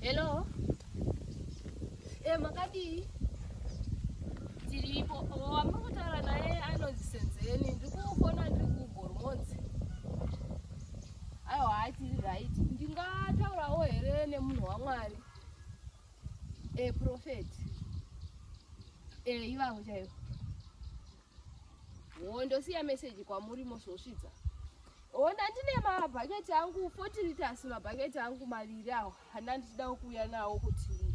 Hello. Eh, makadii? Tiripo. Oh, amuri kutaura naye anonzi Senzeni. Ndiri kufona ndiri kuGormonzi. Aiwa, hatiri right. Ndingataurawo here nemunhu waMwari? Eh, prophet. Eh, ivavo chaivo. Wo ndosiya message kwamuri mosvosvidza. Ona ndine mabhaketi angu 40 liters mabhaketi angu maviri awo hana ndichida kuuya nawo kuti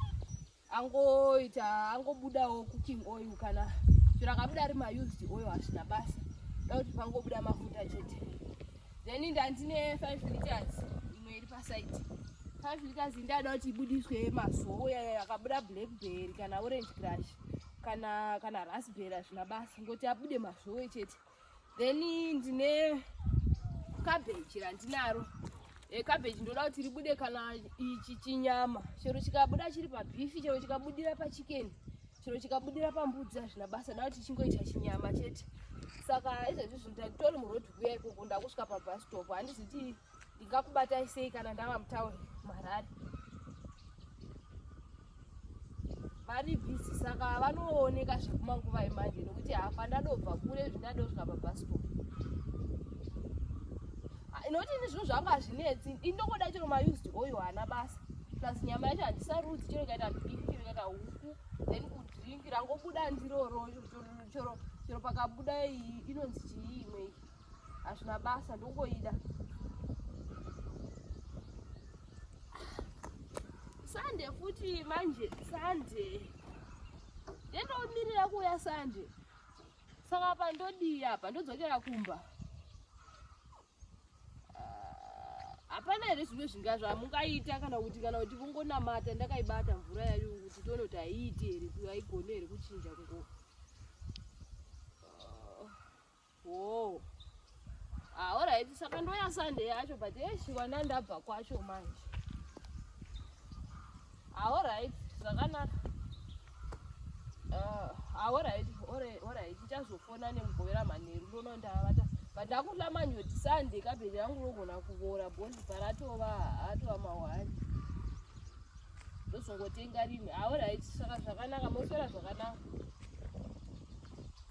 angoita angobudawo cooking oil kana zviro akabuda ari maused oil hazvina basa da kuti pangobuda mafuta chete then ndandine 5 liters imwe iri pasaidi 5 liters ndada kuti ibudiswe masowo yakabuda blackberry kana orange crush kana kana raspberry hazvina basa ngoti abude mazvowe chete then ndine cabbage randinaro e, cabbage ndoda kuti ribude kana ichi chinyama chero chikabuda chiri pabifi chero chikabudira pachikeni chero chikabudira pambudzi hazvina basa nda kuti chingoita chinyama chete saka izvezvi zvinhu tanditori muroad kuya ikoko ndakusvika pabus stop handiziti ndingakubatai sei kana ndava mutauri mharare vari bhizi saka vanooneka zvekumanguva emanje nokuti hafa ndadobva kure zvindadosvika pabhaspo inoti ini zvinhu zvangu hazvinetsi indokoda chero maused oyo haana basa plus nyama yacho handisarudzi chero ikaita bhifi chero ikaita huku then kudrinki rangobuda ndiroro chero pakabuda inonzi chii imwei hazvina basa ndongoida sande futi manje sande ndendomirira kuuya sande saka apa ndodii apa ndodzokera kumba ah, hapana here zvimwe zvinga zvamungaita kana kuti kana kuti vongonamata ndakaibata mvura yayo kuti tione kuti haiiti here aigone here kuchinja kungo Whoa. Ah, alright, saka ndoya Sunday yacho but yeshi wana ndabva kwacho manje. Ah, alright, zvakanaka. Ah, ah alright, alright, alright. Ndichazofona nemugovera manheru ndono ndavata. But ndakuhla manje Sunday kabheji yangu rogona kuvora bondi paratova hatova mawani. Ndozongotenga rini. Ah, alright, saka zvakanaka, moswera zvakanaka.